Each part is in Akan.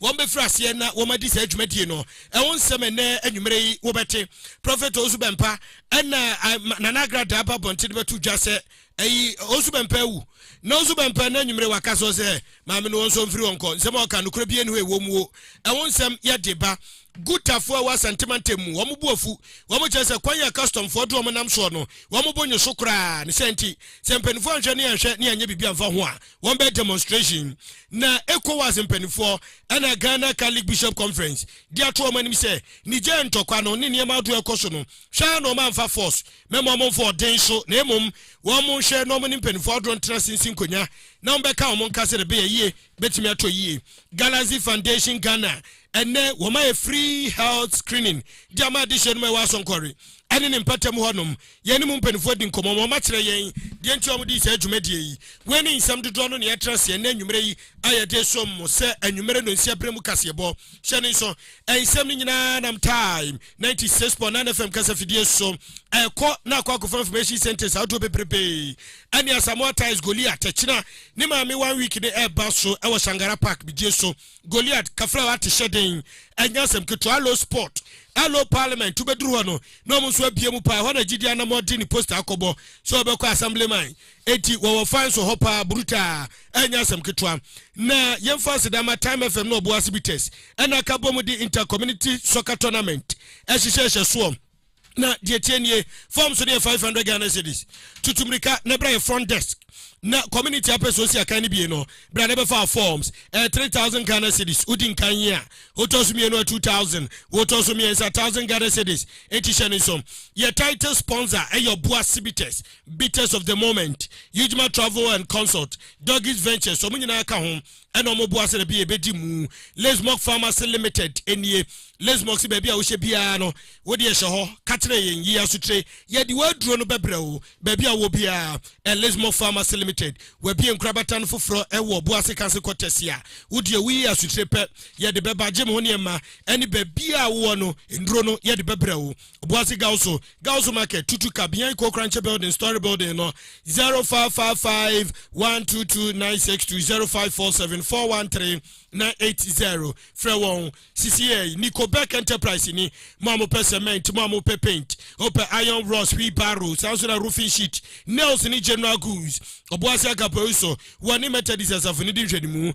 wɔbɛfiri aseɛ na wɔadi saa dwumadie no ɛho nsɛm ɛnnɛ anwummerɛ yi wobɛte Prophet Owusu Bɛmpa ɛna Nana Agra Daa ba bɔnten de bɛto dwa sɛ ɛyi Owusu Bɛmpa awu na Owusu Bɛmpa ɛna anwummerɛ waka so sɛ maame no wɔn nso mfiri wɔn kɔ nsɛm a ɔka nokorɛ bie no ɛwɔ muo ɛho nsɛm yɛde ba gutafoɔ a ɛwɔ asantemantam mu wɔn bu afu wɔn kyerɛ sɛ kwan a customfoɔ de wɔn nam soɔ no wɔn bo nye so koraa ne sɛ nti sɛ mpanimfoɔ anhwɛ ne anhwɛ ne anyɛ biribi anfa ho a wɔn bɛ demonstration na Ecowas mpaninfoɔ ɛna Ghana Catholic Bishop Conference de ato wɔn anim sɛ Niger ntɔkwa no ne nneɛma ahodoɔ a ɛkɔ so no hwɛ ara na wɔn amfa force mɛma wɔn mfa ɔden so na mmom wɔn nhwɛ na wɔn ne mpaninfoɔ ahodoɔ ntena ase nsi nkonya na wɔn bɛka wɔn nka sɛ ɛbɛyɛ yie bɛtumi atɔ yie Galaxy Foundation Ghana ɛnɛ wɔn ayɛ free health screening de ama adehyeɛ no ma ɛwɔ Asɔnkɔre ɛne ne mpatamu hɔnom Yɛne mu mpanyimfo adi nkɔmmɔ ma wɔakyerɛ yɛn deɛ nti a wɔdii saa dwumadie yi. Wei ne nsɛm dodoɔ no na yɛatra ase ɛnnɛ anwummerɛ yi a yɛde resom mo sɛ anwummerɛ nnɔnsia berɛ mu kaseɛbɔ. Hyɛ no nso, nsɛm no nyinaa nam Time ninety six point nine FM kasafidie so rekɔ na akɔ akɔfa information centres ahodoɔ bebrebe ɛne Asamoah Ties, Goliath, Akyina ne Maame One Week no reba so wɔ Shangara Park, Bidie so. Goliath kafra wate hyɛ den ɛnyɛ asɛm ketewa Allo sport Allo parliament wobɛduru hɔ no na ɔmo nso abie mu paa ɛhɔ na gyidi anam ɔde ne poster akɔbɔ sɛ ɔbɛkɔ assemblyman enti wɔwɔ fan so hɔ paa brutaa ɛnyɛ asɛm ketewa na yɛmfa aseda ma time fm na ɔboa ase bitters ɛna aka bom de intercommunity soccer tournament ɛhyehyɛhyɛ soɔ na deɛ ɛteɛ nie form so deɛ 500 ghana cedis tutu mmirika na ɛbrɛ yɛ front desk na community apɛ so si akan no bie no bra na ɛbɛfa forms ɛyɛ eh, 3000 ghana cedis wodi nkan yi a wotɔ so mmienu a 2000 wotɔ so mmiɛnsa 1000 ghana cedis ɛti hyɛ no nsom yɛ title sponsor ɛyɛ ɔboa cibites bitters of the moment yudgma travel and consult doggies ventures ɔmo nyinaa ka ho Ɛna wɔn boa sɛ dabi yɛ bɛdi mu. Lesmok Pharmacy Limited nie. Lesmok se baabi a wohyɛ biara no, wo deɛ hyɛ hɔ. Ka kyerɛ yɛn, yi asotire. Yɛde w'aduro no bɛbrɛ wo, baabi a wowɔ biara. Ɛ Lesmok Pharmacy Limited. W'abie nkorabata no foforɔ wɔ Boase Kanse Quarters a. Wo deɛ woyi asotire pɛ, yɛde bɛba. Gye mo ho nneɛma ne baabiara a wowɔ no, nnuro no, yɛde bɛbrɛ wo. Obuasi Gawusu, Gawusu Market, Tutu Ka, behind Kokranche Building, Story Building no, 0555 122 962 0547 413 980. Frɛ wɔn. Sisi yɛ yi, Nico Beck Enterprise ni. Mo a mopɛ cement, mo a mopɛ paint, wopɛ iron rods, wheelbarrow, saa nso na roofing sheet, nails ne general goods. Obuasi Agape Oiso wɔ ne Methodist asafo no di nhwɛnimu.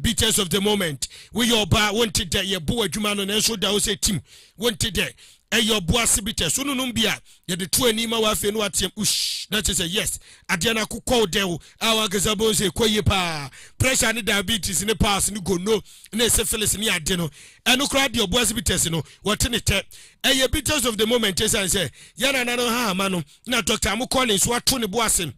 Bitters of the moment Woyɛ ɔbaa, wonte dɛ Yɛbo w'adwuma ano nanso woda hɔ sɛ tim Wonte dɛ ɛyɛ ɔbo ase bitters Wononom bi a, yɛde to ani ma wo afei na woateam Ushh! Na kyerɛ sɛ yes! Adeɛ no akokɔ wo dɛw a w'ankasa bohu sɛ ɛkɔ yie paa Pressure ne diabetes ne piles ne gonno ne syphilis ne ade no Ɛno koraa deɛ ɔbo ase bitters no, wɔte ne tɛ Ɛyɛ bitters of the moment ɛsiane sɛ yɛn nananom hahama no na doctor a mokɔɔ ne nso ato ne bo ase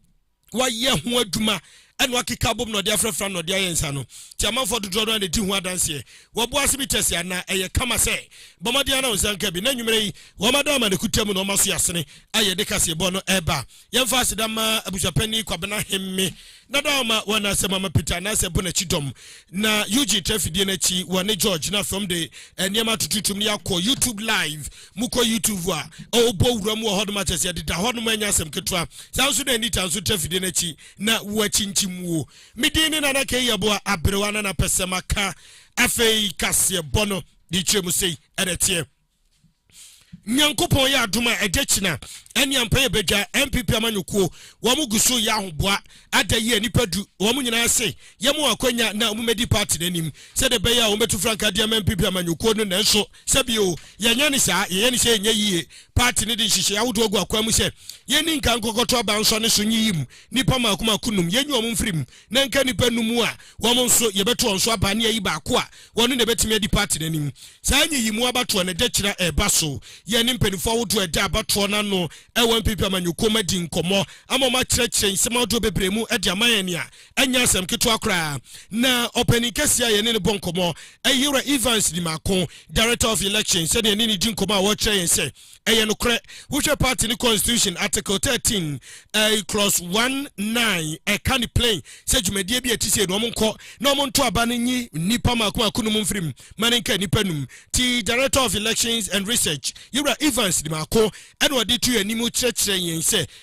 wɔayɛ ho adwuma ɛna wɔakeka abom na ɔde afrafra na ɔde ayɛ nsa no nti amanfoɔ dodoɔ no a na ɛdi ho adanseɛ wɔboa ase bi kyɛ se ana ɛyɛ kama sɛ bɔ mmɔden ana wo nsa nka bi na nnwumerɛ yi wɔmada ama ne kuta mu na wɔma so yɛ asene a yɛde kaseɛbɔ no ɛba yɛmfa aseda ma abusuapani kwabena hemme dada ɔma wɔn asɛm ama peter anaasɛ bo n'akyi dɔm na ug trafidie no akyi wɔne george na fam de eh, nneɛma tututum ne yɛakɔ youtube live Mokɔ YouTube vu a, ɔbɔ wuram wɔ hɔnom akyɛ sɛ ɛdeda hɔnom ɛnyɛ asɛm ketewa. Saa nso na Anita nso tra fidie no akyi na woakyinkyim wo. Me din ne Nana K. Yeboah Aberewa na na pɛsɛ maka afei kaseɛ bɔ no de kyerɛ mu sei ɛna ɛteɛ. Nyankopɔn yɛ adom a ɛda kyina ɛne ampa yɛ bɛdwa NPP amanyɔkuo wɔn gu so yɛ ahoboa ada yie nipa du wɔn nyinaa se yɛ mo akwanya na wɔn mɛdi party no anim sɛdeɛ bɛyɛ a wɔn bɛtu frankaa de ama NPP amanyɔkuo no nanso Sɛ bio, yɛnyɛ no saa. Yɛyɛ no sɛ ɛnyɛ yiye. Paati no de nhyehyɛe ahodoɔ agu akwan mu sɛ, Yɛnni nkan nkɔkɔto aba nsɔ ne so nyiyi mu nnipa mmaako mmaako nnum. Yɛnyi wɔn mfiri mu, na ɛnka nnipa nnum a wɔn nso yɛbɛto wɔn so aba ne ayi baako a ɔno na ɛbɛtumi adi paati no anim. Saa nyiyimu abatoɔ no, ɛda kyiri a ɛreba so. Yɛne mpanimfoɔ ahodoɔ a ɛda abatoɔ no ano wɔ NPP amanyɔkuo mu adi nkɔmmɔ ama wɔakyerɛkyerɛ nsɛm ahodoɔ bebree mu de ama yɛn nea Ɛnyɛ asɛm ketewa koraa na ɔpanyin kɛse a yɛne no bɔ nkɔmmɔ, Ayera Evans Nimako, Director of Elections, sɛnea ɛne no di nkɔmmɔ a ɔkyerɛ yɛn sɛ ɛyɛ nokorɛ. Wohwɛ party no constitution article thirteen clause one nine a, ɛka no plain sɛ dwumadie bi a ɛte sei no, wɔnkɔ na wɔnto aba no nyi nnipa mmaako mmaako nom mfiri mu ma no nka nnipa num. Ti Director of Elections and Research, Yera Evans Nimako, ɛna ɔde to yɛn anim kyerɛkyerɛ yɛn sɛ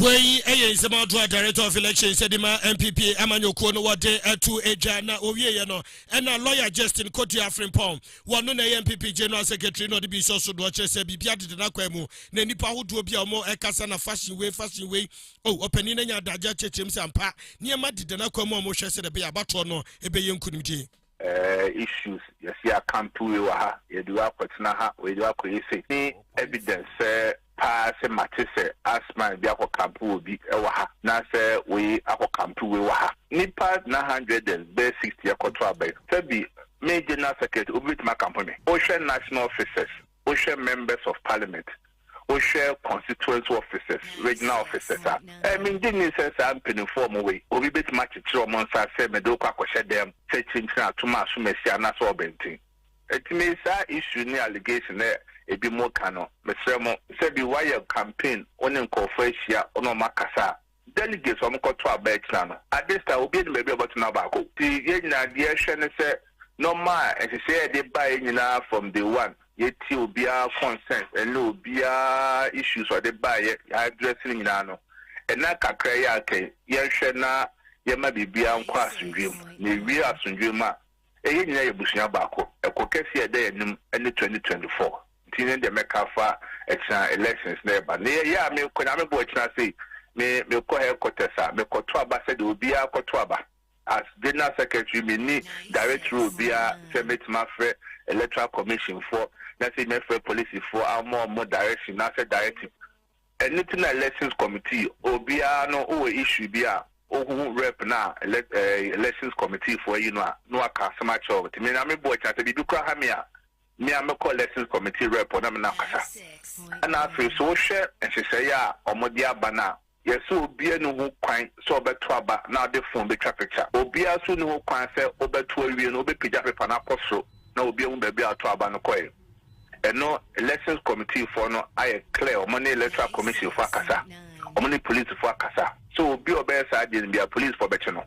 Wei yɛ nsɛm ahodoɔ a Director of Elections de maa NPP amanyɔkuo no wɔde to dwa na wɔwieeɛ no na Lawyer Justin Kodua Afrempong, wɔno na ɛyɛ NPP General Secretary na ɔde bi hyɛ so doɔ kyerɛ sɛ biribiara deda n'akwan mu na nnipa ahodoɔ bi a wɔkasa na fashion wei fashion wei oh ɔpanin no anya adagyeɛ akyerɛkyerɛm sɛ ampa nneɛma deda n'akwan mu a wɔhwɛ sɛdeɛ ɛbɛyɛ abatoɔ no bɛyɛ nkunimdie. Eh issues yɛse akanto wei wɔ ha yɛde wei akɔtena ha wei de wei akɔyɛ sei ne evidence sɛ paa sɛ mate sɛ asthma bi akɔ kampo wɔ bi wɔ ha na sɛ wei akɔ kampo wei wɔ ha nipa na hundred and bɛɛ sixty ɛkɔto aba yi sɛ bi me general secretary obi bɛtumi akampo me wohwɛ national officers wohwɛ members of parliament, wohwɛ constituency officers, regional officers a, eh, mengye nni sɛ saa mpanimfoɔ ɔmo wei, obi bɛtumi akyekyere ɔmo nsa sɛ mede wokɔ akɔhyɛ dɛm sɛ kyinkyin atom asomasi anaasɛ ɔbɛnten. Ɛtumi saa issue ne allegation a ebi mo ka no, mesrɛ mo, sɛbi woayɛ campaign, wo ne nkorɔfoɔ ahyia, wo ne ɔmo akasa a, Delegates a wɔkɔto aba akyina no, ade saa a, obiara nim baabi a ɔbɛto n'abaako. Enti yɛn nyinaa, deɛ yɛhwɛ ne sɛ nneɛma a nhyehyɛe a yɛde baeɛ nyinaa from day one, yɛtie obiara concerns ne obiara issues a ɔde baeɛ, yɛaddress no nyinaa no, nna kakra yi a aka yi, yɛnhwɛ na yɛma biribiara nkɔ asomdwoeɛ mu. Na ɛwie asomdwoeɛ mu a, Eh yɛn nyinaa yɛ abusua baako ɛko kɛseɛ a ɛda yɛn anim ne twenty twenty four nti ne deɛ mɛka afa ɛkyena elections na ɛba ne yɛ a mekɔ nyame boɔ ɛkyena sei me mekɔ headquarters a mekɔto aba sɛdeɛ obiara kɔto aba as general secretary menni direct role biara sɛ mɛtumi afrɛ electoral commission foɔ na sɛ mɛfrɛ police foɔ ama ɔmo direction na sɛ directive Ɛno nti na elections committee obiara no wɔ issue bi a ohu rep no a elect eh, elections committee foɔ ayi no a na waka asɛm akyerɛ wɔn. Nti me na me boɔ kyɛ sɛ biribi kora ha me a me a mɛkɔ elections committee rep hɔ na me na akasa. Ɛna afei so wohwɛ nhyehyɛeɛ a wɔde aba no a yɛsɛ obiara ni ho kwan sɛ ɔbɛto aba na ɔde phone bɛtwa picture. Obiara nso ni ho kwan sɛ wobɛto awie no wobɛpagya paper no akɔ soro na obi ahu baabi a woto aba no kɔeɛ. ɛno elections committee foɔ no ayɛ clear ɔmo ne electoral commission foɔ akasa ɔmo ne police foɔ akasa so obi ɔbɛyɛ saa adeɛ no bia police foɔ bɛkye no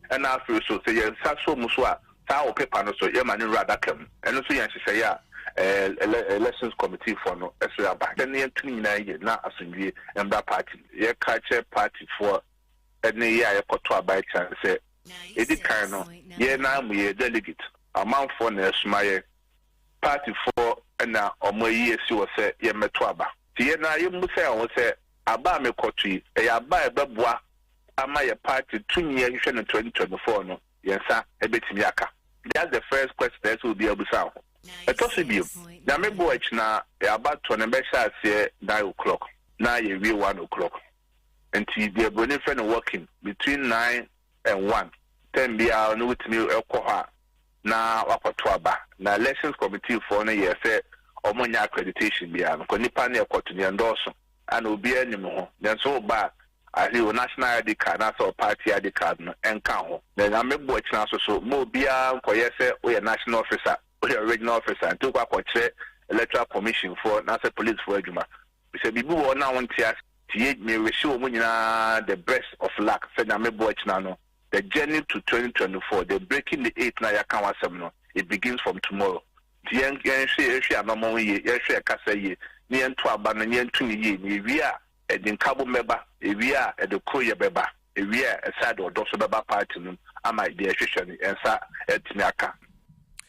ɛna afei so sɛ yɛn nsa so mu so a saa wɔ paper no so yɛma ne nwura adaka mu ɛno so yɛn nhyehyɛeɛ a ɛɛ elections committee foɔ no ɛso aba sɛ ne yɛn tum nyinaa yɛ na asomdwie mbra party yɛ ka kyɛ party foɔ ɛne yɛ a yɛkɔto aba ɛkyɛn sɛ ɛdi kan no yɛ na mu yɛ delegate amanfoɔ na ɛsoma yɛ partyfoɔ na wɔn ayi asi hɔ sɛ yɛmmɛto aba. Nti yɛn ara yɛmmisa yɛn ho sɛ, aba a mekɔto yi, ɛyɛ aba a ɛbɛboa ama yɛn party tumi a ɛhwehwɛ no twenty twenty four no, yɛn nsa bɛtumi aka? That's the first question a ɛsɛ sɛ obiara bisa ne ho. Ɛtɔ so bio, Nyame boa akyi no ara, yɛn abatoɔ no bɛhyɛ aseɛ nine o'clock na yɛawie one o'clock. Nti deɛ buroni frɛ no walking, between nine and one, time biara no wotumi kɔ hɔ a, na wakɔto aba na elections committee foɔ no yɛɛ sɛ ɔmo nyɛ accreditation biaa no kɔ nipa no ɛkɔto deɛ ndɔɔso ana obiaa nim ho nanso woba a at least wo national ID card anaasɛ wo party ID card no nka ho na nyame boɔ kyena so so ma obiaa nkɔyɛ sɛ woyɛ national officer woyɛ regional officer nti wokɔ akɔkyerɛ electoral commission foɔ anaasɛ police foɔ adwuma bisɛ biribi wɔ hɔ no a wonte ase nti yɛ me wishee ɔmo nyinaa the best of luck sɛ nyame boɔ kyena no The journey to twenty twenty four, the breaking the eight no a yɛaka ho asɛm no, it begins from tomorrow. Nti yɛn yɛnhwɛ yɛnhwɛ anamɔn yie, yɛnhwɛ yɛn kasa yie, na yɛnto aba no na yɛnto no yie. Na ewie a ɛde nkabom bɛba, ewie a ɛde koroyɛ bɛba, ewie a ɛsan de ɔdɔ nso bɛba party no mu ama deɛ yɛhwehwɛ no yɛn nsa atumi aka.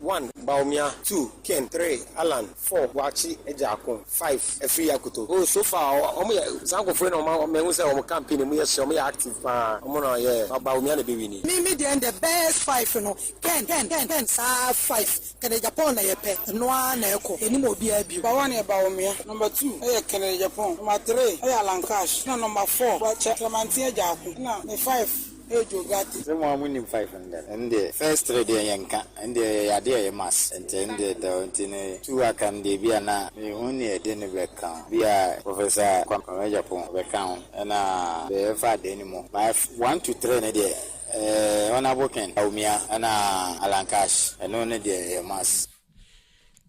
One, Bawumia, two, Ken, three, Allan, four, Boakye, Agyaako, five, Afiri Akoto. Oh so far wɔn yɛ saa nkorɔfoɔ yi na wɔn a mehu sɛ wɔn campaign emu yɛ hye wɔn yɛ active paa wɔn na wɔyɛ but Bawumia na ɛbɛ wini. Me me deɛ ndɛ best five no Ken Ken Ken Ken saa five Kennedy Agyapong na yɛ pɛ ɛno ara na ɛkɔ yɛ nim obiara bio. Number one yɛ Bawumia, number two ɛyɛ Kennedy Agyapong, number three ɛyɛ Allan Cash ɛna number four Boakye Kyerɛmanten Agyaako ɛna me five. Sɛ mo ara monim five no dɛn? Ɛno deɛ first three deɛ yɛnka, ɛno deɛ ɛyɛ adeɛ a ɛyɛ must nti ɛno deɛ da hɔ nti no two aka no deɛ ebia na menhu nea ɛde no bɛka ho. Ebia Professor Kwame Agyapong ɔbɛka ho ɛna deɛ yɛmfa adaani mu but one to three no deɛ ɛɛ Honourable Ken Bawumia ɛna Alan Cash ɛno no deɛ ɛyɛ must.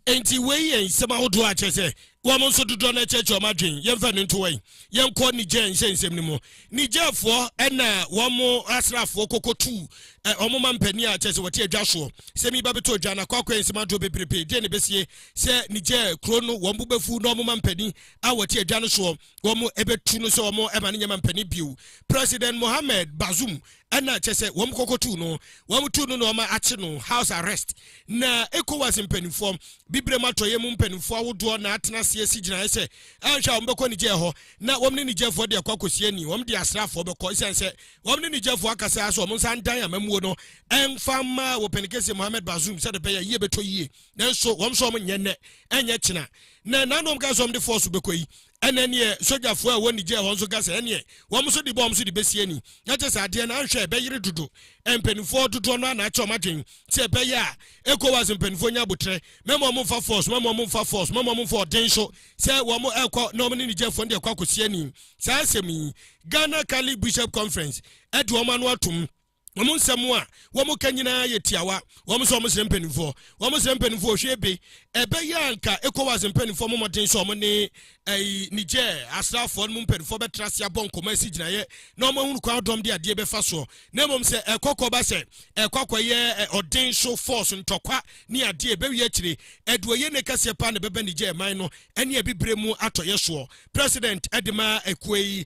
Enti wei yɛ nsɛm ahodoɔ a kyerɛ sɛ wɔn nso dodoɔ no akyerɛkyerɛ wɔn adwene. Yɛmfa no nto wɔn. Yɛnkɔ Niger nhyɛ nsɛm no mu. Nigerfoɔ ɛna wɔn asraafoɔ kɔkɔ tu eh, wɔn ma mpanin a kyerɛ sɛ wɔte adwa soɔ. Sɛm yi ba bɛtɔ adwa no akɔ akɔyɛ nsɛm ahodoɔ bebrebe. Deɛ na ɛbɛsie sɛ Niger kuro no wɔn bo bɛfu na wɔn ma mpanin a wɔte adwa no soɔ wɔn ɛbɛtu no sɛ wɔn ɛma no nyɛ ma mpanin bio. President Mohamed Bazoum ɛna kyɛ sɛ wɔn kɔkɔ tuu no wɔn tuu no na wɔn akye no house arrest na ECOWAS mpanimfoɔ bibrem atɔyɛ mu mpanimfoɔ ahodoɔ na atena ase asi gyinaeɛ sɛ ɛnhwɛ a wɔn bɛkɔ Niger hɔ na wɔn ne Nigerfoɔ de akɔ akɔsi ani wɔn de asraafoɔ bɛkɔ esiane sɛ wɔn ne Nigerfoɔ akasa ara so wɔn nsa ndan amammuo no ɛnfa mma wɔ pɛnikɛseɛ Mohamed Bazoum sɛ de bɛyɛ yie bɛtɔ yie nanso wɔn nso wɔn nyɛ nnɛ ɛnyɛ kyena na ɛna na wɔn kaa sɛ wɔn de force bɛkɔ yi Ɛna ɛneɛ sogyafoɔ a ɛwɔ Niger hɔ nso ka sɛ ɛneɛ wɔn nso de bɔ wɔn so de bɛsi ani na kyɛ sɛ adeɛ no anhwɛ a ɛbɛyere dodo. Mpaninfoɔ dodoɔ no ara na akyɛ wɔn adwene sɛ ɛbɛyɛ a Ecowas mpaninfoɔ nya aboterɛ ma ma wɔn mfa force ma ma wɔn mfa force ma ma wɔn mfa ɔden nso sɛ wɔn ɛrekɔ na wɔn ne Nigerfoɔ no de akɔ akɔsi ani. Saa asɛm yi Ghana Catholic Bishop Conference ɛde wɔn ano atom. Wɔn nsɛm a wɔka nyinaa yɛ tiawa. Wɔn sɛ wɔsrɛ mpanimfoɔ. Wɔsrɛ mpanimfoɔ ɔhwɛ bi. Ɛbɛyɛ a anka ECOWAS mpanimfoɔ mmɔ mmɔden sɛ wɔne ɛyi Niger asraafoɔ no mu mpanimfoɔ bɛtra ase abɔ nkɔmmɔ asi gyinaeɛ na wɔahunu kwan ahodoɔ a wɔde adeɛ bɛfa soɔ na mmom sɛ ɛkɔ kɔba sɛ ɛkɔ akɔyɛ ɔden so force ntɔkwa ne adeɛ ɛbɛwie akyire ɛde ɔyɛ ne kɛseɛ paa na ɛbɛba Niger man no ɛne abibire mu atɔyɛ soɔ. President de ma ekuo yi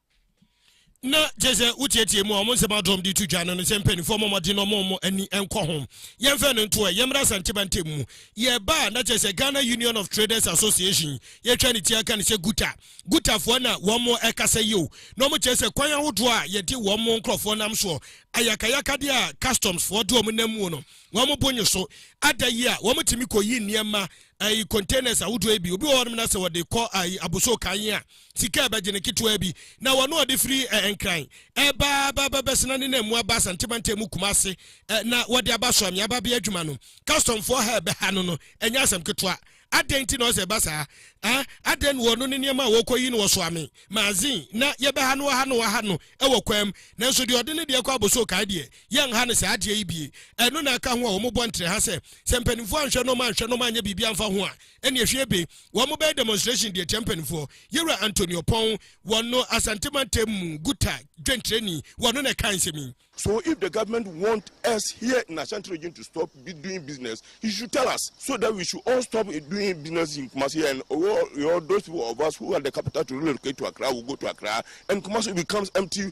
na kyerɛ sɛ wotietie mu a wɔn nsɛm adɔm de to dwa no no sɛ mpanimfoɔ mmɔ mmɔden na wɔn wɔn ani nkɔ ho yɛmfɛ no ntoɛ yɛmmra asanteba ntɛm mu yɛba a na kyerɛ sɛ Ghana Union of Traders Association yɛtwa ne ti aka no sɛ guta gutafoɔ na wɔn mo ɛkasa yi o na wɔn kyerɛ sɛ kwan ahodoɔ a yɛde wɔn mo nkurɔfoɔ nam soɔ ayakayakadeɛ a customs foɔ de wɔn nam mu no wɔn mo bonyo so ada yi a wɔn tumi kɔyi nneɛma ayi containers ahodoɔ yi bi obi wɔ hɔ nom na sɛ wɔde kɔ ayi aboso kan yi a sika a ɛbɛgye no ketewaa bi, na wɔn a ɔde firi Nkran ɛreba ba bɛbɛsena ne nam mu aba Asante mantam mu Kumase na wɔde aba Soamia babea adwuma no, kɔstɔmfoɔ ha ɛbɛha no no, ɛnyɛ asɛm ketewa. Adɛn nti na ɔsɛ ɛba saa? Ah, adɛn na wɔno ne nneɛma a wɔkɔyi no wɔ Soame, Mazin, na yɛbɛha no wɔha no wɔha no wɔ kwan mu, nanso deɛ ɔde ne deɛ kɔ Abossey Okai deɛ, yɛnha no saa adeɛ yi bie. Ɛno na ɛka ho a wɔbɔ ntrɛha sɛ, sɛ mpanimfoɔ anhwɛ nom anhwɛ nom anyɛ biribi amfa ho a, ɛne ɛhwie be wɔn bɛyɛ demonstration deɛ tia mpanimfoɔ yɛwura Anthony Ɔpɔn wɔn no Asante mantam mu guta dwenkyerɛni wɔn no na ɛka nsɛm yi. So if the government want us here in Ashanti region to stop doing business, he should tell us so that we should all stop doing business in Kumasi and all, all those people of us who are the capital to relocate to Accra will go to Accra and Kumasi becomes empty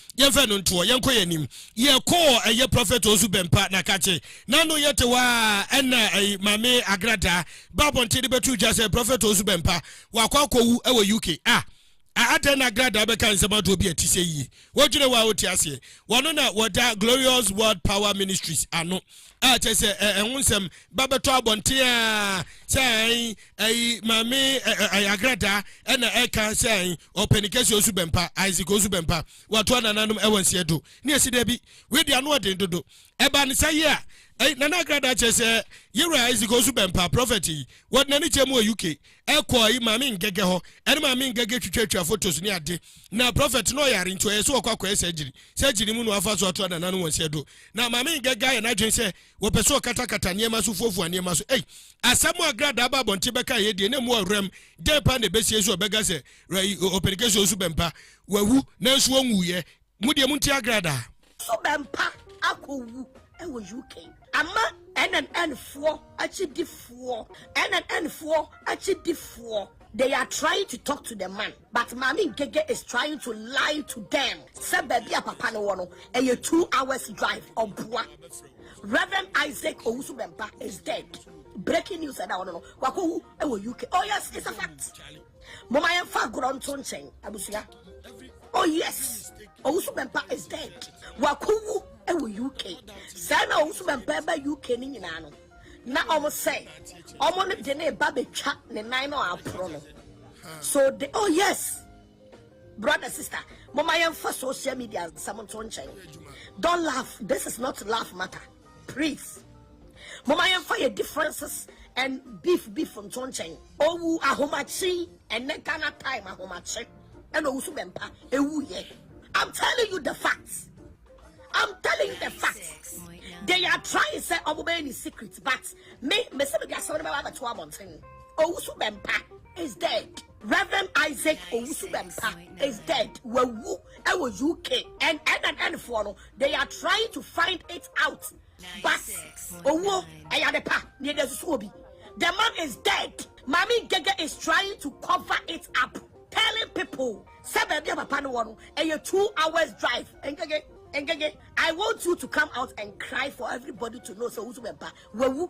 yɛmfɛ no ntoɔ yɛnkɔ yɛn anim yɛkɔɔ ɛyɛ prɔfɛt ɔsu bɛmpa na kakye na no yɛte hɔ a ɛna ɛyi maame agradaa ba abɔnten de bɛto dwa sɛ prɔfɛt ɔsu bɛmpa wakɔ akɔwu ɛwɔ uk a adɛn na agradaa bɛka nsɛm adoɔ bi a ɛte sɛ yie wodwene hɔ a wote aseɛ wɔno na wɔda glorious world power ministries ano a kyɛ sɛ ɛho nsɛm ba bɛtɔ abɔnten a sɛ ɛn ɛyi maame ɛyɛ agradaa ɛna ɛka sɛ ɛn ɔpɛni kɛse osu bɛmpa isaac osu bɛmpa wato anananom ɛwɔ nseɛ do ne ɛsi dɛ bi wei de ano ɔden dodo ɛba ne sa yie a ɛyi nana agradaa kyɛ sɛ yɛwura isaac osu bɛmpa prɔfɛt yi wɔde n'ani kyɛ mu wɔ uk ɛkɔ ayi maame ngɛgɛ hɔ ɛne maame ngɛgɛ twitwatwa photos ne ade na prophet no ɔyare nti ɔyɛ sɛ ɔkɔ akɔyɛ surgery surgery mu no afa so ato nana no wɔn sɛ do na maame ngɛgɛ ayɛ n'adwene sɛ wɔpɛ so ɔkatakata nneɛma so fuafua nneɛma so ei asɛm a gradaa ba abɔnten bɛka yɛ deɛ na mu awuram dɛn pa na ɛbɛsie so ɔbɛka sɛ ɔpɛnikɛsɛ osu bɛmpa wawu nanso wɔnwuiɛ Mo deɛ monti agradaa. So bɛmpa akɔwu wɔ UK? Ama NNN foɔ akyidifoɔ NNN foɔ akyidifoɔ. They are trying to talk to the man but maame Ngege is trying to lie to them sɛ baabi a papa no wɔ no ɛyɛ two hours drive ɔboa. Reverend Isaac Owusu Bɛmpa is dead. Breaking news ɛda hɔ no no wakɔwu wɔ UK. Oh yes, it's a fact. Moma yɛn fa agorɔ nto nkyɛn abusua. Oh yes, Owusu Bɛmpa is dead. Wakowu ɛwɔ UK. Sɛ na Owusu Bɛmpa ɛba UK ne nyinaa no. Na ɔmo sɛ ɔmo no de ne ba betwa ne nan no aporo no. So de oh yes. Brother sister, moma yɛn fa social media nsɛm nto nkyɛn. Don't laugh. This is not laugh matter. Please momma yɛmfa yɛn differences and beef beef nto nkyɛn. Owu ahomakye ɛnɛ Ghana time ahomakye ɛna owu so bɛmpa ewu yɛ. I'm telling you the facts. I'm telling you the facts. They are trying to say ọmọ bẹyẹ ni secret but me me sẹ mi di asẹm ni bẹẹ wa bẹ to abọnten. Owusu Bẹmpa is dead. Rev. Isaac Owusu-Bempah is dead, wawu wɔ UK and NNN foɔ no they are trying to find it out but owuo ɛyɛ ade pa na yɛde asusu obi the man is dead Maame Ngege is trying to cover it up telling people sɛ baabi a papa no wɔ no ɛyɛ two hours drive Ngege Ngege I want you to come out and cry for everybody to know sɛ Owusu-Bempah wawu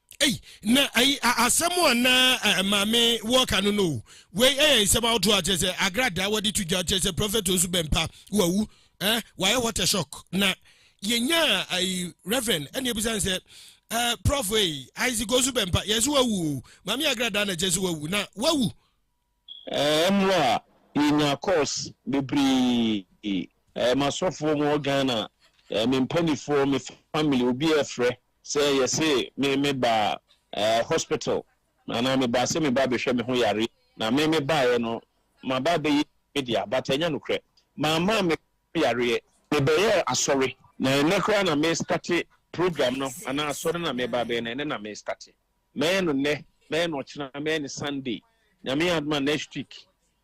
Ei, na ayi asɛm a na maame wɔka no no wei ɛyɛ nsɛm ahodoɔ akyerɛ sɛ agradaa wɔde to dwa kyerɛ sɛ prɔfɛt nso bɛmpa wawu eh, wayɛ what a shock na yɛnya ayi reverend ɛne ebisa sɛ eh, prɔf ei isaac nso bɛmpa yɛn so wawu o maame agradaa na kyerɛ sɛ wawu na wawu Mmerɛ a yɛnyaa calls bebree, m'asɔfoɔ mu wɔ Ghana, me mpanifoɔ, me family, obiara frɛ sɛ yɛse me me ba hospital anaa me ba sɛ me ba bɛhwɛ me ho yareɛ na me me baeɛ no maba abɛyɛ me dea but ɛnyɛ nokorɛ mamma me ho yareɛ, me bɛyɛɛ asɔre na ɛnnɛ koraa na me starte program no anaa asɔre no a meba abɛyɛ no ɛnnɛ na me starte. Mɛyɛ no nnɛ, mɛyɛ no ɔkyena, mɛyɛ no Sunday. Nyame yɛ adom a next week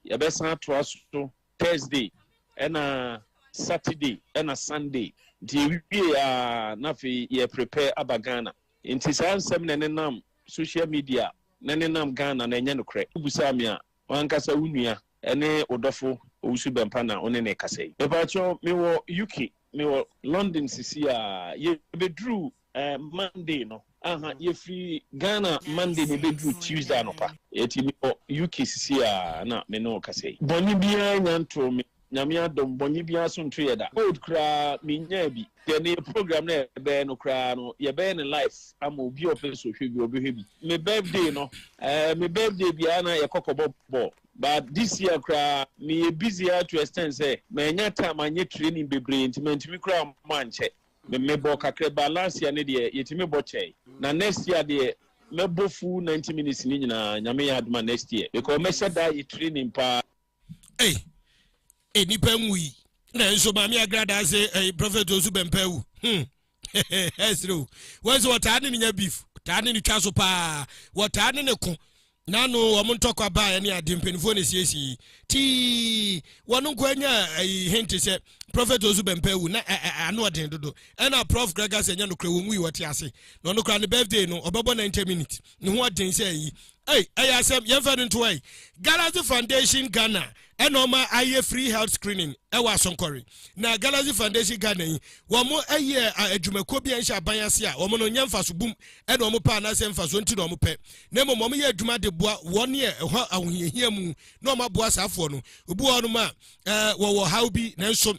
yɛbɛsan atoa so Thursday ɛna Saturday ɛna Sunday. Nti yɛwie a na afei yɛ prepare aba Ghana. Nti saa nsɛm na ɛnenam social media na ɛnenam Ghana no ɛnyɛ nokorɛ. Wobusaa me a, w'ankasa wo nua ɛne wo dɔfo Owusu Bɛmpa na wo ne no rekasa yi. Mepaakyɛw, mewɔ UK, mewɔ London sisi a, yɛbɛduruu eh, monday no aha mm. yɛfiri ghana monday na ɛbɛduru tuesday anɔpa yɛti mekɔ uk sisi a na me ne ɔkasa yi bɔne biara nya ntoo me nyame adom bɔne biara so nto yɛ da old koraa menyaa bi deɛ ne program no yɛbɛyɛ no koraa no yɛbɛyɛ ne life ama obi ɔpɛ so hwɛ bi ɔbɛhwɛ bi me birthday no eh, me birthday biara na yɛkɔkɔbɔ bɔɔ but this year koraa meyɛ busy to extend sɛ manya time anyɛ training bebree nti mantumi koraa mankyɛ Me mebɔɔ kakrɛbaa last year ne deɛ yɛtumi bɔ kyɛe na next year deɛ mɛbɔ full ninety minutes ne nyinaa nyame yɛ adom a next year because mɛhyɛ daa yɛ training paa. Ei, ei nipa nwu yi nanso maame agrada se ei prophet osu bɛmpa wu hmm ɛsere o wɔn sɛ wɔtaa ne ne nya beef wɔtaa ne ne twa so paa wɔtaa ne ne ko N'ano wɔn ntɔkwa baeɛ ne adeɛ mpanimfoɔ na ɛsiesiee tii wɔn nkoa nyaa ayi hente sɛ Prophet Osu Bɛmpɛ awu na ɛ ɛ ano ɔden dodo ɛna Prof Gregor sɛ ɛnyɛ nokorɛ wɔnwui wɔte ase na ɔno koraa ne birthday no ɔbɛbɔ 90 minutes ne ho ɔden sɛ ayi Ei, ɛyɛ asɛm, yɛmfa no nto ɛ. Galaxy Foundation Ghana ɛna ɔma ayɛ free health screening ɛwɔ asɔnkɔre na galaxy foundation ghana yi wɔn ɛyɛ adwumakuo bi a nhyɛ aban ase a wɔn no nyɛ nfaso bum ɛna wɔn pɛ anaasɛ nfaso nti na wɔn pɛ na mmom wɔn yɛ adwuma de boa wɔn yɛ ɛhɔ ahohiahia mu na wɔn aboa saafoɔ no obi wɔ hɔnom a ɛɛ wɔwɔ haw bi nanso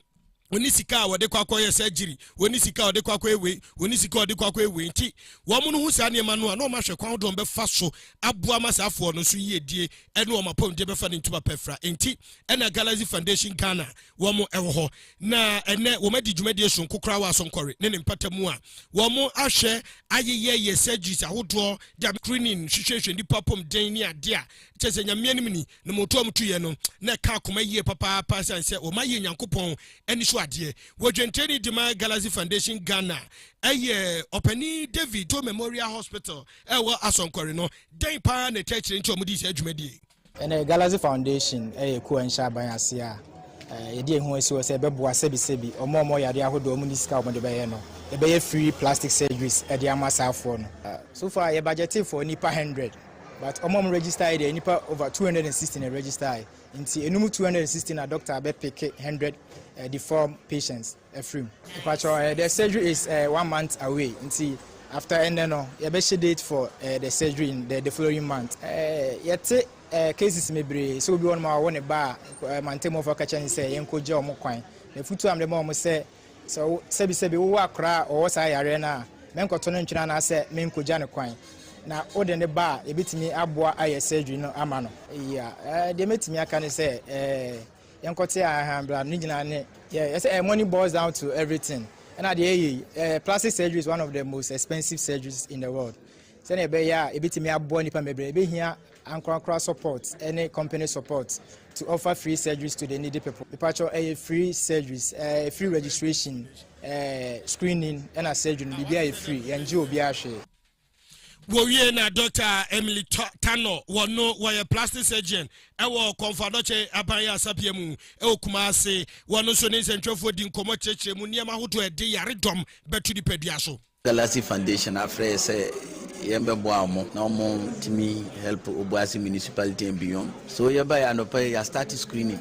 wɔne sika a wɔde kɔ akɔyɛ surgery wɔne sika a wɔde kɔ akɔyɛ wei wɔne sika a wɔde kɔ akɔyɛ wei nti wɔn no ho saa nneɛma no a na wɔn ahwɛ kwan dodoɔ bɛfa so aboa ma saa afoɔ no so yiedie ɛne wɔn apɔmuden bɛfa ne ntoma pɛfra nti ɛna Galaxy Foundation Ghana wɔn ɛwɔ hɔ na ɛnɛ wɔn adi dwumadie sonko koraa wɔ asɔnkɔre ne ne mpata mu a wɔn ahwɛ ayeyɛ yɛ surgeries ahodoɔ da screening hwehwɛhwɛ nipa apɔmuden ne adeɛ a kyɛ sɛ nyamea no mu ni Ne mmorotoɔ a wɔtuiɛ no, na ɛka akoma yie papaapa ɛsiane sɛ wɔma yɛɛ Nyankopɔn ani so adeɛ. Wɔdwentireni de ma Galaxy Foundation Ghana yɛ Ɔpanin David Doe Memorial Hospital a ɛwɔ Asɔnkɔre no. Dɛn pa ara na ɛtaa kyerɛ nti a wɔdii saa dwumadie yi? Ɛnnɛ, Galaxy Foundation yɛ kuo a nhyɛ aban aseɛ a yɛde yɛn ho asi hɔ sɛ ɛbɛboa sɛbisɛbi wɔn a wɔwɔ yadeɛ ahodoɔ a wɔnni sika a wɔde bɛyɛ no. Yɛbɛyɛ free plastic surgeries de ama saafoɔ no. So far, yɛbagyɛtee for nnipa 100. But ɔmo a ɔmo register yi deɛ nipa over two hundred and sixty na register yi nti enum two hundred and sixty na doctor abɛ pick hundred eh, deform patients afiri mu. Mpatsɔ eh, the surgery is eh, one month away nti after ɛnɛ no yɛbɛ hyɛ date for eh, the surgery in the, the following month. Eh, yɛte eh, cases bebree sɛ obi wɔ nom a ɔwɔ ne ba a eh, mantamuafo aka kyerɛ ne sɛ yɛn kɔ gya ɔmo kwan na futu a mede ma ɔmo sɛ Sɛ wo, sɛbisɛbi wowɔ akɔraa a ɔwɔ saa yareɛ no a, mɛnkɔto no ntwene anaasɛ menkɔgya no kwan. Na wode no ba a, yɛbɛtumi aboa ayɛ surgery no ama no. Yeah, eh, deɛ mɛtumi aka ne sɛ, eh, yɛnkɔte a, aha, bra, ne nyinaa ne, yeah, yɛsɛ, eh, money boils down to everything. Ɛna deɛ ɛyɛ yi, eh, plastic surgery is one of the most expensive surgeries in the world. Sɛdeɛ ɛbɛyɛ a yɛbɛtumi aboa nnipa bebree, ɛbɛhia Ankorankora support ne company support to offer free surgeries to the needy people. Mepakyɛw ɛyɛ free surgeries, ɛɛ free registration, ɛɛ screening ɛna surgery no biribiara yɛ free, yɛn gye obiara hwee. Wɔwie na Dɔkta Emily Tanor wɔn no wɔyɛ plastic surgeon ɛwɔ Kɔmfoadɔkyɛ aban yasapea mu ɛwɔ Kumasi. Wɔn nso ne nsɛntwerɛfoɔ di nkɔmmɔ kyerɛkyerɛ mu nneɛma ahodoɔ ɛde yaredɔm bɛto nipadua so. Galaxy Foundation afrɛ yɛ sɛ yɛn bɛ boa ɔmo na ɔmo tumi help Obuasi municipality and beyond so yɛ baɛ anɔpa yi yɛ start screening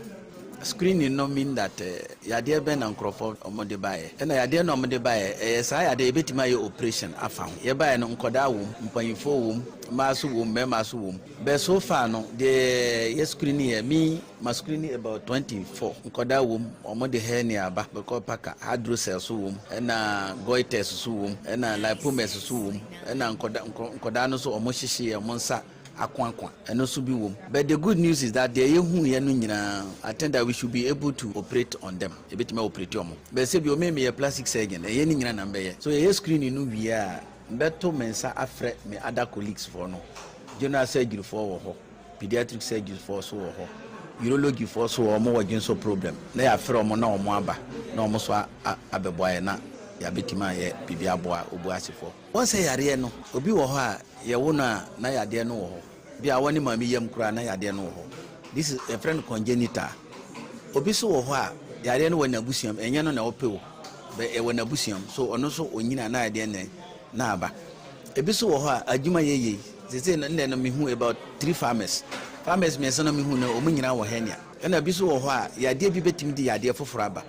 screening no mean that yadeɛ bɛn na nkorɔfoɔ ɔmo de baɛ ɛna yadeɛ na ɔmo de baɛ ɛyɛ saa yadeɛ yɛ bɛtumi ayɛ operation afa ho yɛ baɛ no nkɔdaa wɔ mu mpaninfoɔ wɔ mu mmaa so wɔ mu mɛɛma so wɔ mu bɛ so far no deɛ yɛ screening yɛ me. Masculine about twenty four, nkɔdaa wɔ mu, wɔn de hernia aba, bɛkɔ packer, hydrocele so wɔ mu, ɛna goiters so wɔ mu, ɛna lipomas so wɔ mu, ɛna nkɔda nkɔ nkɔdaa no nso wɔn hyehyeɛ, wɔn nsa akoakoa, ɛno nso bi wɔ mu, but the good news is that deɛ yɛhuiɛ no nyinaa, I think that we should be able to operate on them, yɛbɛtumi a operate wɔn, but sɛbi ome meyɛ plastic surgeon, ɛnyɛ ne nyina na mbɛyɛ, so yɛyɛ screening no wie a, mbɛto me nsa afrɛ me other colleagues foɔ no, general surgery foɔ wɔ hɔ. Pediatric surgeons foɔ so wɔ hɔ, urology foɔ nso wɔ hɔ, wɔn wɔ dwensɔ problem na yɛafrɛ wɔn na wɔn aba na wɔn nso abɛboa yɛn na yɛabɛtumi ayɛ biribi aboa obu ase foɔ. Wɔn sɛ yareɛ no obi wɔ hɔ a yɛwo no a na yadeɛ no wɔ hɔ, bi a wɔne maame yam koraa na yadeɛ no wɔ hɔ, this is yɛfrɛ no congenital, obi nso wɔ hɔ a yareɛ no wɔ n'abusuam, ɛnyɛ no na ɔpɛ o but ɛwɔ n'abusuam so ɔno nso ɔnyini a na yadeɛ no na aba. Ebi so wɔ hɔ a adwuma yɛ yie. Sesei no ndɛ no me hu about three farmers. Farmers miensa no me hu no ɔmo nyinaa wɔ hernia. Ɛna ebi so wɔ hɔ a yadeɛ bi bɛtumi de yadeɛ foforɔ aba.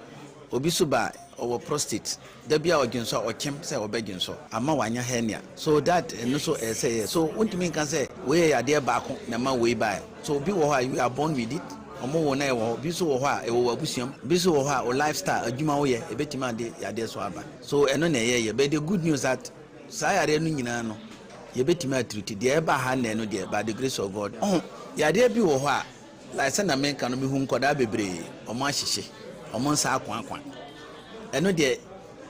Obi so ba a ɔwɔ prostate. Da biaa ɔdwensɔ a ɔkyem sɛ ɔbɛ dwensɔ ama wanya hernia. So that ɛno so ɛyɛ sɛ ɛyɛ. So wontumi nka sɛ wei yɛ yadeɛ baako na ɛma wei baɛ. So obi wɔ hɔ a you are born with it, ɔmo wo no a ɛwɔ hɔ. Ebi so wɔ hɔ a ɛwɔ w'abusua mu. Ebi so wɔ hɔ a wo lifestyle, adwuma woyɛ ɛbɛtumi ade yadeɛ so aba. So ɛno na ɛyɛ yɛ? But the good news that saa yareɛ no nyinaa no yɛbɛtumi atreat. Deɛ ɛba ha nnɛ no deɛ by the grace of God. Ɔho yareɛ bi wɔ hɔ a like sɛ na menka no mehu nkɔdaa bebree ɔmo ahyehye ɔmo nsa akoakwa. Ɛno deɛ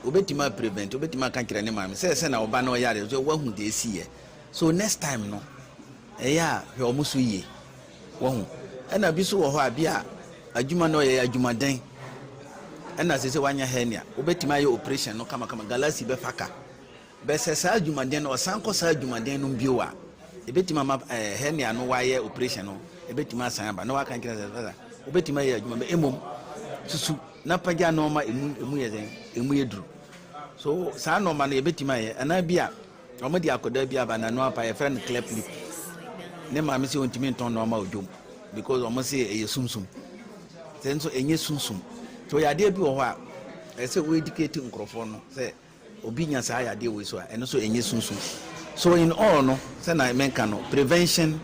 wobɛtumi a prevent wobɛtumi aka kyerɛ ne maame sɛ sɛ na ɔba na ɔyare so wahu deɛ ɛsi yɛ. So next time no ɛyɛ a hwɛ ɔmo so yie. Wahu? Ɛna bi nso wɔ hɔ a, bi a adwuma no ɔyɛ yɛ adwumaden, ɛna sɛ sɛ wanya hernia, wobɛtumi ayɛ operation no kamakama, galasi bɛfa ka. Bɛ sɛ saa adwumaden no, ɔsan kɔ saa adwumaden no bio a, ɛbɛtumi ama ɛɛ hernia no wayɛ operation no, ɛbɛtumi asan aba, na waka nkyerɛ sɛ sɛ wobɛtumi ayɛ adwuma bɛ, mmom susu na pagya nnoɔma emu emu yɛ dɛn, emu yɛ duru. So saa nnoɔma no yɛbɛtumi ayɛ, anaa bi a. Wɔde akwadaa bi aba n'ano apa, yɛfrɛ no cleft lip. Ne maame sɛ ɔntumi ntɔn nɔɔma odwom because wɔn se ɛyɛ sunsum. Sɛ nso ɛnyɛ sunsum. So yadeɛ bi wɔ hɔ a ɛsɛ wo educate nkurɔfoɔ no sɛ obi nya saa yadeɛ wei so a ɛno so ɛnyɛ sunsum. So in all no sɛ na menka no prevention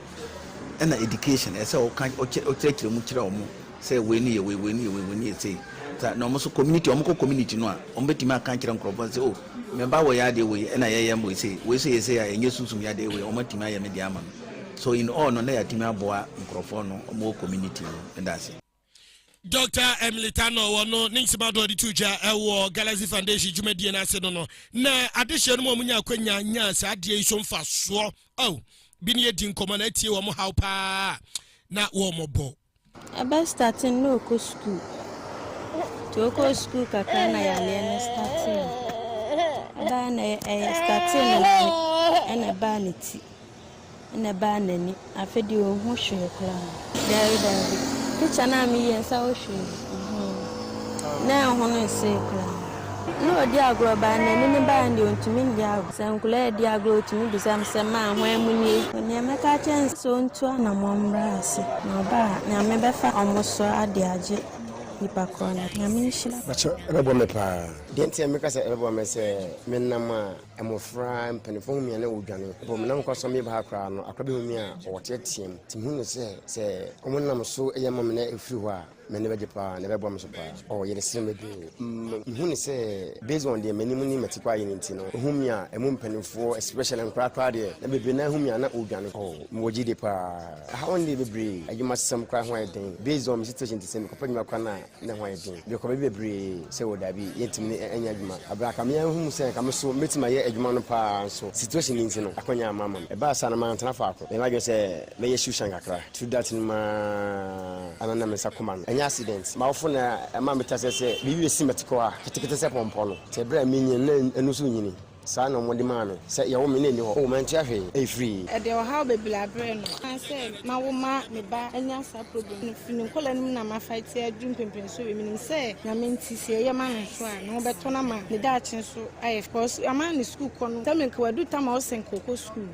ɛna education ɛsɛ ɔka ɔkyerɛkyerɛ mu kyerɛ wɔn. sɛ wei ne yɛ wei, wei ne yɛ wei, wei ne yɛ sei. Sa na wɔn nso community, wɔn kɔ community no a, wɔn bɛtumi aka akyerɛ nkurɔfoɔ sɛ, oh, me ba wɔ yɛ adeɛ wei, ɛna yɛyɛ wei sei, wei nso yɛ sei a, ɛnyɛ sunsum yadeɛ wei, wɔn atumi ayɛ me deɛ ama me. So in all no, na yɛatumi aboa nkurɔfoɔ no, wɔn wɔ community no. Meda ase. Doctor Emily Tanor wɔ no ne nsɛm adoɔ de to dwa ɛwɔ Galaxy Foundation dwumadie no ase no no na adehyeɛ no mu a wɔnya akwanya nya saa adeɛ yi so mfasoɔ. Oh, bi ne yɛdi nkɔmmɔ na atie wɔn haw paa na wɔmmɔbɔ. Ɛbɛ starte no na ɔkɔ sukuu nti ɔkɔ sukuu kakra na yareɛ no starte no ɛbaa na ɛyɛ starte no na ɛna ɛbaa ne ti ɛna ɛbaa n'ani afei deɛ ɔhu hwee koraa daabi daabi picture no a meyie nsa wo hwee na ɛho no nsee koraa Na ɔdi agorɔ baa na anini baa no deɛ ɔntumi ndi agorɔ. Sɛ nkwadaa redi agorɔ a ɔtumi bisa me sɛ, Maa, hwan mu nie? Deɛ mɛka akyerɛ no ne sɛ ɔntu anammɔn mmra ase. Na ɔba a, Nyame bɛfa wɔn so ade agye nipa korɔ no. Nyame nhyira. Pakyɛ ɛbɛboa me paa. Deɛ nti a meka sɛ ɛbɛboa me ne sɛ, me nam a, mmɔfra, mpaninfoɔ hu me a na wɔdwane. Before menam kwan so meba ha koraa no, akwadaa bi hu me a, ɔteateam. Nti mehu no sɛ, sɛ wɔnam so yɛ ma me na ɛfiri hɔ a, Me ne bɛgye paa na ɛbɛboa me so paa. Ɔ yɛde sere me dwee. Mehu ne sɛ based on deɛ m'anim ne m'ati kɔ ayɛ no nti no, ɔhu me a ɛmu mpanimfoɔ especially nkwadaa koraa deɛ na bebree no ara hu me a na ɔredwane. Ɔ mewɔ gyidie paa. Ɛha hɔ no deɛ bebree adwumasɛm koraa ho ayɛ den based on me situation nti sɛ mekɔpɛ adwuma koraa no a na ɛho ayɛ den. Mekɔ baabi bebree sɛ ɔ daabi yɛntumi ne ɛnyɛ adwuma. Aberɛ a anka me ara hu sɛ anka me so mɛtumi ayɛ adwuma no paa nso situation nti no akwannya amma amma me. Ɛbaa saa no mantena faako. Meyɛ m'adwene sɛ mɛyɛ shoe shine kakra. True dat no maa ana na me nsa koma no ɛnyɛ accident m'awofo na ɛmaa me tasɛ sɛ biribi bɛsi mɛtekɔ a ketekete sɛ pɔmpɔ no tɛ berɛ a me nyin na ɛnu so nyini saa na wɔde maa me sɛ yɛwo me na ɛni hɔ oh mantua hwee ɛyɛ firii. Ɛde ɔhaw bebree abrɛ no. Ɛsiane sɛ mawo ma me ba anya saa problem no firi ne nkwadaa no mu na ma fighte aduru mpɛmpɛnsoɔ wei menim sɛ Nyame nti sɛ yɛyɛ ma no nso a ne ho bɛtɔ no ama ne daakye nso ayɛ fɛ cos ama ne sukuu kɔ no sɛ menka wadu tam a ɔsɛ nka ɔkɔ sukuu.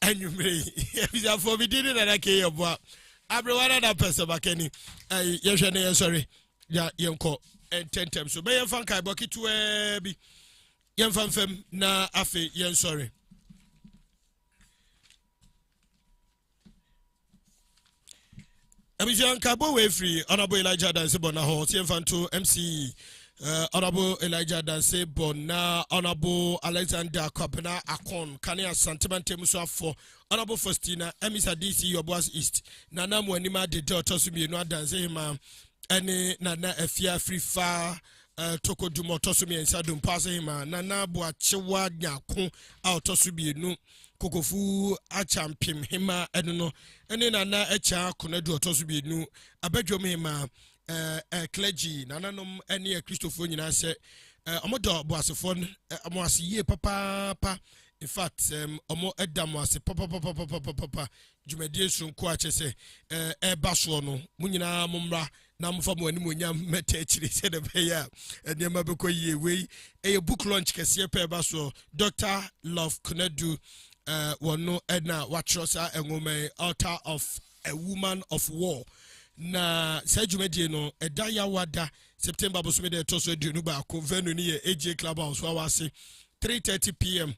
anwummere yi abusuafoɔ me din ne nana ke yɛ boa aberewa no na pɛsɛ bakani yɛhwɛ ne yɛnsɔre ya yɛnkɔ ntɛntɛm so bɛyɛ mfa nkaebɔ ketewaa bi yɛmfa mfam na afei yɛnsɔre abusua nka bɔ wei firi ɔnabo elija danse bɔ na hɔ ɔsɛ mfa nto mc ɔnabo eh, elija danse bɔ na ɔnabo alexander kwabena akon kane asantema ntam so afɔ ɔnabo faustina amisa dc yɔboas east nana mu anim adede ɔtɔ so mmienu adanse hema ɛne nana afia firi fa eh, tokodum ɔtɔ so mmiɛnsa dompa ase hema nana boakyewa nyako a ɔtɔ so mmienu Kokofu Akyampem Hemmaa ɛno no ne Nana Akyaa Konadu ɔtɔ so mmienu abadwam hemmaa ɛɛ clergy nananom ne akristofoɔ nyinaa sɛ wɔn dɔ boasefoɔ no wɔn ase yie papaapa in fact wɔn ɛda wɔn ase papapapapapapa dwumadie soronko akyɛ sɛ ɛɛba soɔ no mo nyinaa mo mmra. na mofa mo animonyam mmɛta akyire sɛdeɛ ɛbɛyɛ a nneɛma bɛkɔ yie wei ɛyɛ book launch kɛseɛ pɛ ɛba soɔ dr love konadu uh, wɔn no ɛna watwerɛ saa nwoma yi altar of a woman of war na saa dwumadie no ɛda yawa da september bosome da ɛtɔ so aduonu baako venue no yɛ agye club house wawa ase 3:30 pm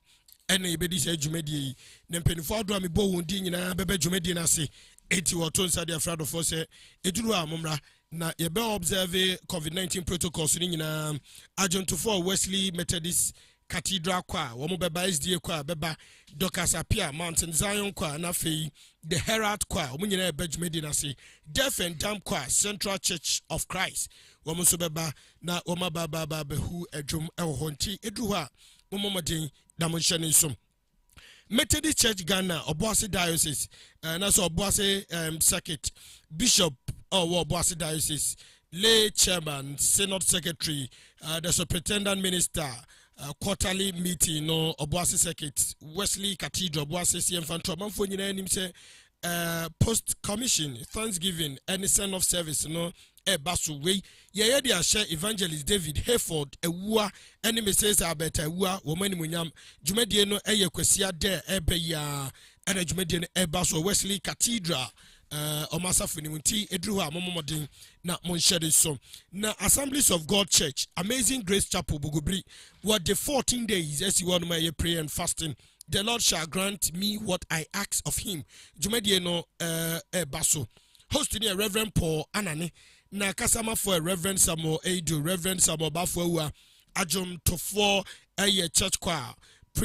ɛna yɛbɛdi saa dwumadie yi na mpanimfoɔ ahodoɔ a mebɔ wɔn din nyinaa bɛbɛ dwumadie no ase eti wɔto nsa de afra adɔfoɔ sɛ eduru a mommra na yɛbɛ observe covid-19 protocols no nyinaa agyentofoɔ wesley methodist cathedral kɔ a wɔn bɛba sda kɔ a bɛba docas apia mountain zion kɔ a na afei the herald kɔ a wɔn nyinaa ɛbɛ dwumadie no ase deaf and dumb kɔ a central church of christ wɔn nso bɛba na wɔn abaabaabaabɛhu adwom ɛwɔ hɔ nti eduru hɔ a mommɔ mmɔden na monhyɛ ne nsom methodist church ghana ɔboase diocese eh, na sɛ ɔboase um, circuit bishop ɔwɔ oh, ɔboase diocese lay chairman synod secretary uh, the superintendent minister uh, quarterly meeting no ɔboase circuit wesley cathedral ɔboase siɛmfa ntorɔmanfoɔ nyinaa anim sɛ uh, post commission thanksgiving ne send off service no ɛba so wei yɛyɛ de ahyɛ evangelist david hayford awua ne mrs albert awua wɔn animonyam dwumadie no ɛyɛ kwasia dɛ ɛbɛ yi a ɛna dwumadie no ɛba so wesley cathedral eh, ɔmo asafo no mu nti ɛduru hɔ a mommɔmmɔden na monhyɛ de so na assemblies of god church amazing grace chapel bogobiri wɔde 14 days asi hɔ nom ɛyɛ prayer and fasting The Lord shall grant me what I ask of him. Dwumadie no ɛɛba eh, eh, so. Host ni yɛ Reverend Paul Anane na kasamafo yɛ Reverend Samuel Eidu, Reverend Samuel Bafoawua, adwomtofoɔ ɛyɛ church choir.